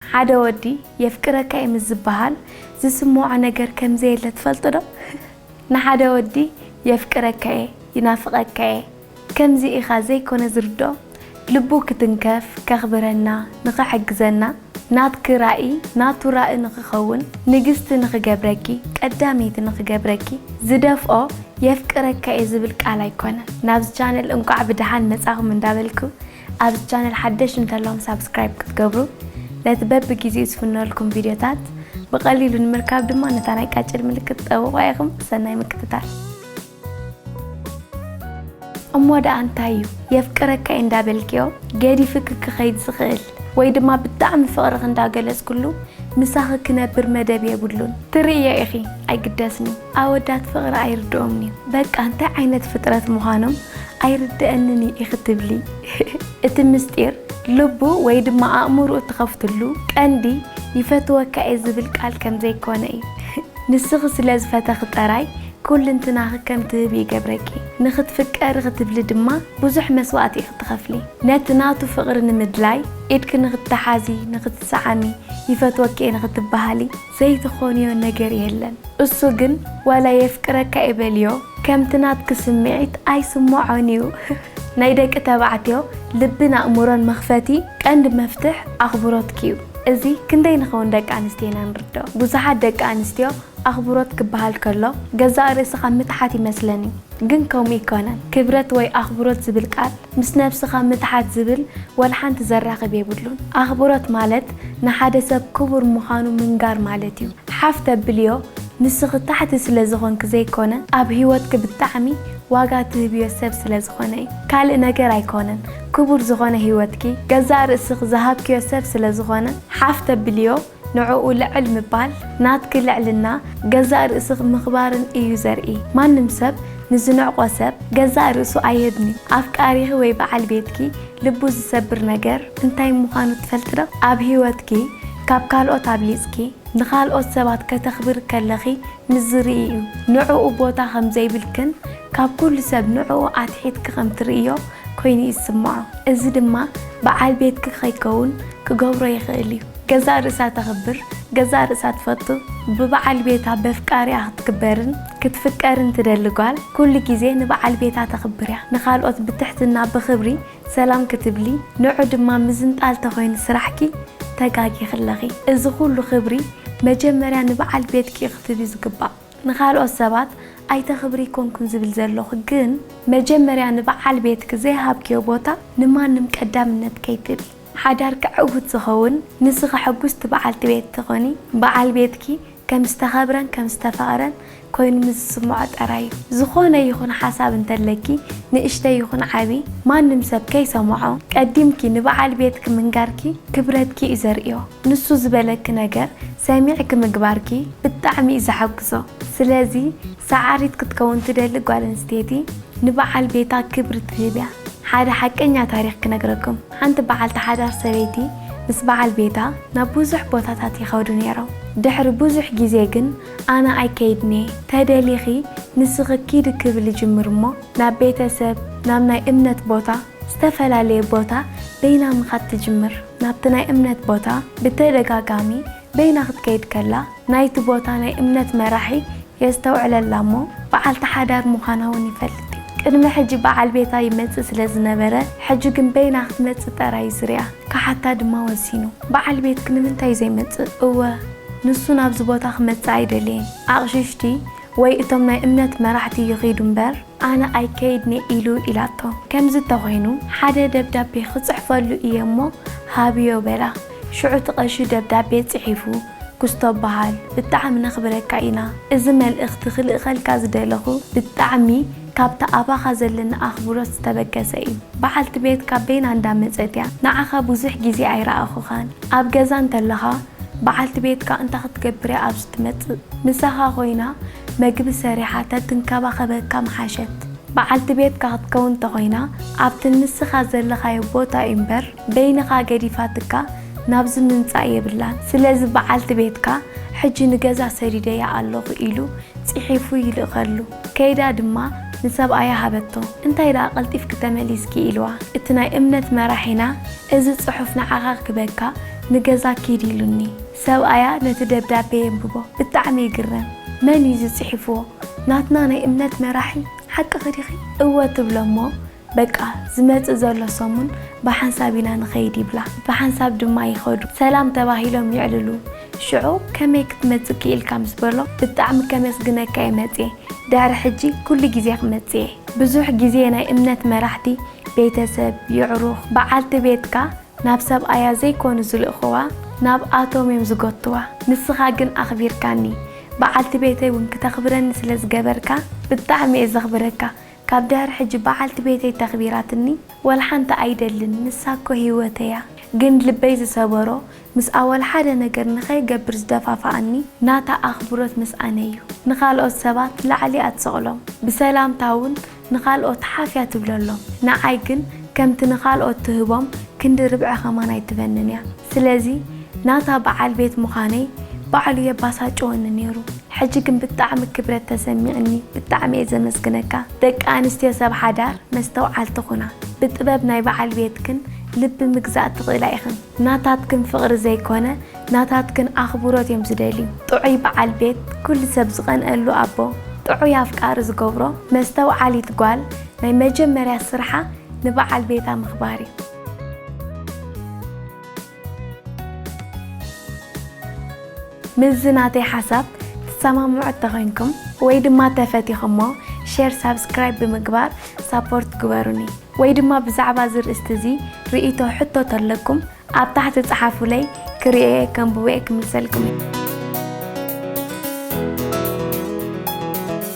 ሓደ ወዲ የፍቅረካ እየ ምስ ዝበሃል ዝስምዖ ነገር ከም ዘየለ ትፈልጡ ዶ? ንሓደ ወዲ የፍቅረካ እየ፣ ይናፍቐካ እየ ከምዚ ኢኻ ዘይኮነ ዝርድኦ፣ ልቡ ክትንከፍ፣ ከኽብረና፣ ንኽሕግዘና፣ ናትኪ ራኢ ናቱ ራኢ ንኽኸውን፣ ንግስቲ ንኽገብረኪ፣ ቀዳመይቲ ንኽገብረኪ ዝደፍኦ የፍቅረካ እየ ዝብል ቃል ኣይኮነን። ናብዚ ቻነል እንቋዕ ብደሓን መጻኹም እንዳበልኩ፣ ኣብዚ ቻነል ሓደሽቲ እንተለኹም ሳብስክራይብ ክትገብሩ ነቲ በቢ ጊዜኡ ዝፍነወልኩም ቪድዮታት ብቐሊሉ ንምርካብ ድማ ነታ ናይ ቃጭል ምልክት ጠውቑዋ ኢኹም ሰናይ ምክትታል። እሞ ደኣ እንታይ እዩ የፍቅረካ እንዳበልክዮ ገዲፍኪ ክኸይድ ዝኽእል ወይ ድማ ብጣዕሚ ፍቕርኺ እንዳገለጽክሉ ምሳኺ ክነብር መደብ የብሉን ትርእይዮ ኢኺ ኣይግደስኒ። ኣወዳት ፍቅሪ ኣይርድኦምንዩ በቃ እንታይ ዓይነት ፍጥረት ምዃኖም ኣይርደኣንንዩ ኢኪ ትብሊ እቲ ምስጢር ልቡ ወይ ድማ ኣእምሩኡ ትከፍትሉ ቀንዲ ይፈትወካ እየ ዝብል ቃል ከምዘይኮነ እዩ ንስኪ ስለ ዝፈተኪ ጠራይ ኩልንትናኪ ከም ትህቢ ይገብረኪ ንክትፍቀሪ ክትብሊ ድማ ብዙሕ መስዋእቲ ኢኪ ትከፍሊ ነቲ ናቱ ፍቅሪ ንምድላይ ኢድኪ ንክትሓዚ ንክትሰዓሚ ይፈትወኪ እየ ንክትበሃሊ ዘይትኾንዮ ነገር የለን እሱ ግን ዋላ የፍቅረካ እየ በልዮ ከምቲ ናትኪ ስሚዒት ኣይስሞዖን እዩ ናይ ደቂ ተባዕትዮ ልብን ኣእምሮን መኽፈቲ ቀንዲ መፍትሕ ኣኽብሮትኪ እዩ እዚ ክንደይ ንኸውን ደቂ ኣንስትዮ ኢና ንርደኦ ብዙሓት ደቂ ኣንስትዮ ኣኽብሮት ክበሃል ከሎ ገዛእ ርእስኻ ምትሓት ይመስለን እዩ ግን ከምኡ እይኮነን ክብረት ወይ ኣኽብሮት ዝብል ቃል ምስ ነብስኻ ምትሓት ዝብል ወልሓንቲ ዘራኽብ የብሉን ኣኽብሮት ማለት ንሓደ ሰብ ክቡር ምዃኑ ምንጋር ማለት እዩ ሓፍ ተብልዮ ንስኺ ታሕቲ ስለ ዝኾንኪ ዘይኮነ ኣብ ሂወትኪ ብጣዕሚ ዋጋ ትህብዮ ሰብ ስለ ዝኾነ እዩ ካልእ ነገር ኣይኮነን ክቡር ዝኾነ ሂወትኪ ገዛእ ርእስኺ ዝሃብክዮ ሰብ ስለ ዝኾነ ሓፍ ተብልዮ ንዕኡ ልዕል ምባል ናትኪ ልዕልና ገዛእ ርእስኺ ምኽባርን እዩ ዘርኢ። ማንም ሰብ ንዝንዕቆ ሰብ ገዛእ ርእሱ ኣይህብን እዩ። ኣፍቃሪኺ ወይ በዓል ቤትኪ ልቡ ዝሰብር ነገር እንታይ ምዃኑ ትፈልጢ ዶ? ኣብ ህይወትኪ ካብ ካልኦት ኣብሊጽኪ ንኻልኦት ሰባት ከተኽብሪ ከለኺ ምስ ዝርኢ እዩ ንዕኡ ቦታ ከም ዘይብልክን ካብ ኩሉ ሰብ ንዕኡ ኣትሒትኪ ከም ትርእይዮ ኮይኑ እዩ ዝስምዖ እዚ ድማ ብዓል ቤትኪ ከይከውን ክገብሮ ይኽእል እዩ ገዛእ ርእሳ ተኽብር ገዛእ ርእሳ ትፈቱ ብብዓል ቤታ በፍቃሪኣ ክትክበርን ክትፍቀርን ትደሊ ጓል ኩሉ ግዜ ንብዓል ቤታ ተኽብር እያ ንኻልኦት ብትሕትና ብኽብሪ ሰላም ክትብሊ ንዑ ድማ ምዝንጣል ተኮይኑ ስራሕኪ ተጋጊኪ ኣለኺ እዚ ኩሉ ክብሪ መጀመርያ ንበዓል ቤትኪ ክትህቢ ዝግባእ ንካልኦት ሰባት ኣይተክብሪ ኣይኮንኩን ዝብል ዘለኩ ግን መጀመርያ ንበዓል ቤትኪ ዘይሃብክዮ ቦታ ንማንም ቀዳምነት ከይትህቢ ሓዳርኪ ዕውት ዝከውን ንስኪ ሕጉስቲ በዓልቲ ቤት ትኮኒ በዓል ቤትኪ ከም ዝተኸብረን ከም ዝተፈቕረን ኮይኑ ምስ ዝስምዖ ጥራይ እዩ። ዝኾነ ይኹን ሓሳብ እንተለኪ ንእሽተይ ይኹን ዓቢ ማንም ሰብ ከይሰምዖ ቀዲምኪ ንበዓል ቤትኪ ምንጋርኪ ክብረትኪ እዩ ዘርእዮ። ንሱ ዝበለኪ ነገር ሰሚዕኪ ምግባርኪ ብጣዕሚ እዩ ዘሓጉሶ። ስለዚ ሰዓሪት ክትከውን ትደሊ ጓል ኣንስተይቲ ንበዓል ቤታ ክብሪ ትህብ እያ። ሓደ ሓቀኛ ታሪኽ ክነግረኩም። ሓንቲ በዓልቲ ሓዳር ሰበይቲ ምስ በዓል ቤታ ናብ ብዙሕ ቦታታት ይኸዱ ነይሮም። ድሕሪ ብዙሕ ግዜ ግን ኣነ ኣይከይድን'የ፣ ተደሊኺ ንስኺ ኪዲ ክብል ይጅምር እሞ ናብ ቤተ ሰብ፣ ናብ ናይ እምነት ቦታ፣ ዝተፈላለየ ቦታ በይና ምኻድ ትጅምር። ናብቲ ናይ እምነት ቦታ ብተደጋጋሚ በይና ክትከይድ ከላ ናይቲ ቦታ ናይ እምነት መራሒ የስተውዕለላ እሞ በዓልቲ ሓዳር ምዃና እውን ይፈልጥ እዩ። ቅድሚ ሕጂ በዓል ቤታ ይመጽእ ስለ ዝነበረ ሕጂ ግን በይና ክትመጽእ ጠራይ እዩ ዝርኣ። ክሓታ ድማ ወሲኑ። በዓል ቤትኪ ንምንታይ ዘይመጽእ? እወ ንሱ ናብዚ ቦታ ክመጽእ ኣይደለየን። ኣቕሽሽቲ ወይ እቶም ናይ እምነት መራሕቲ ይኺዱ እምበር፣ ኣነ ኣይከይድን'የ ኢሉ ኢላቶ። ከምዚ እንተኾይኑ ሓደ ደብዳቤ ክጽሕፈሉ እየ'ሞ ሃብዮ በላ። ሽዑ'ቲ ቀሺ ደብዳቤ ጽሒፉ፣ ኩስቶ በሃል ብጣዕሚ ነኽብረካ ኢና። እዚ መልእኽቲ ክልእኸልካ ዝደለኹ ብጣዕሚ ካብ'ቲ ኣባኻ ዘለኒ ኣኽብሮት ዝተበገሰ እዩ። በዓልቲ ቤትካ በይና እንዳመጸት'ያ፣ ንዓኻ ብዙሕ ግዜ ኣይረኣኹኻን። ኣብ ገዛ እንተለኻ በዓልቲ ቤትካ እንታይ ክትገብር እያ ኣብዚ ትመጽእ? ምሳኻ ኰይና መግቢ ሰሪሓ ተትንከባኸበካ ምሓሸት። በዓልቲ ቤትካ ክትከውን እንተዀይና፣ ኣብቲ ንስኻ ዘለኻዮ ቦታ እዩ እምበር፣ በይንኻ ገዲፋትካ ናብዚ ምምጻእ የብላን። ስለዚ በዓልቲ ቤትካ ሕጂ ንገዛ ሰዲደያ ኣለኹ ኢሉ ጽሒፉ ይልእኸሉ። ከይዳ ድማ ንሰብኣያ ሃበቶ። እንታይ ደኣ ቀልጢፍኪ ተመሊስኪ? ኢልዋ። እቲ ናይ እምነት መራሒና እዚ ጽሑፍ ንዓኻ ክበካ ንገዛ ኪድ ኢሉኒ። ሰብኣያ ነቲ ደብዳቤ የንብቦ። ብጣዕሚ ይግረም። መን እዩ እዚ ጽሒፍዎ? ናትና ናይ እምነት መራሒ ሓቅኺ ዲኺ? እወ ትብሎ እሞ በቃ ዝመጽእ ዘሎ ሰሙን ብሓንሳብ ኢና ንኸይድ ይብላ ብሓንሳብ ድማ ይኸዱ ሰላም ተባሂሎም ይዕልሉ ሽዑ ከመይ ክትመጽእ ክኢልካ ምስ በሎ ብጣዕሚ ከመስግነካ እየ መጽየ ድሕሪ ሕጂ ኩሉ ግዜ ክመጽእ እየ ብዙሕ ግዜ ናይ እምነት መራሕቲ ቤተሰብ የዕሩኽ ብዓልቲ ቤትካ ናብ ሰብኣያ ዘይኮኑ ዝልእኽዋ ናብ ኣቶም እዮም ዝጎትዋ ንስኻ ግን ኣኽቢርካኒ ብዓልቲ ቤተይ ውን ክተኽብረኒ ስለ ዝገበርካ ብጣዕሚ እየ ዘኽብረካ ካብ ድሕሪ ሕጂ በዓልቲ ቤተይ ተኽቢራትኒ ወልሓንቲ ኣይደልን ንሳ እኮ ሂወተይ እያ ግን ልበይ ዝሰበሮ ምስኣ ወልሓደ ነገር ንኸይገብር ዝደፋፍኣኒ ናታ ኣኽብሮት ምስ ኣነ እዩ ንኻልኦት ሰባት ላዕሊ እያ ትሰቕሎም ብሰላምታ እውን ንኻልኦት ሓፍ እያ ትብለሎም ንዓይ ግን ከምቲ ንኻልኦት ትህቦም ክንዲ ርብዒ ከማን ኣይትበንን እያ ስለዚ ናታ በዓል ቤት ምዃነይ ባዕሉ የባሳጭወኒ ነይሩ። ሕጂ ግን ብጣዕሚ ክብረት ተሰሚዕኒ ብጣዕሚ እየ ዘመስግነካ ደቂ ኣንስትዮ ሰብ ሓዳር መስተውዓልቲ ኩና ብጥበብ ናይ በዓል ቤትክን ልቢ ምግዛእ ትኽእላ ኢኽን ናታትክን ፍቕሪ ዘይኮነ ናታትክን ኣኽብሮት እዮም ዝደልዩ ጥዑይ በዓል ቤት ኩሉ ሰብ ዝቐንኣሉ ኣቦ ጥዑይ ኣፍቃሪ ዝገብሮ መስተውዓሊት ጓል ናይ መጀመርያ ስርሓ ንበዓል ቤታ ምኽባር እዩ። ምስዚ ናተይ ሓሳብ ትሰማምዑ እተኮይንኩም ወይ ድማ ተፈቲኩሞ ሸር ሳብስክራይብ ብምግባር ሳፖርት ግበሩኒ ወይ ድማ ብዛዕባ እዚ ርእስቲ እዚ ርእይቶ ሕቶ ተለኩም ኣብ ታሕቲ ጸሓፉለይ ክርእዬ ከንብቦዬ ክምልሰልኩም እየ።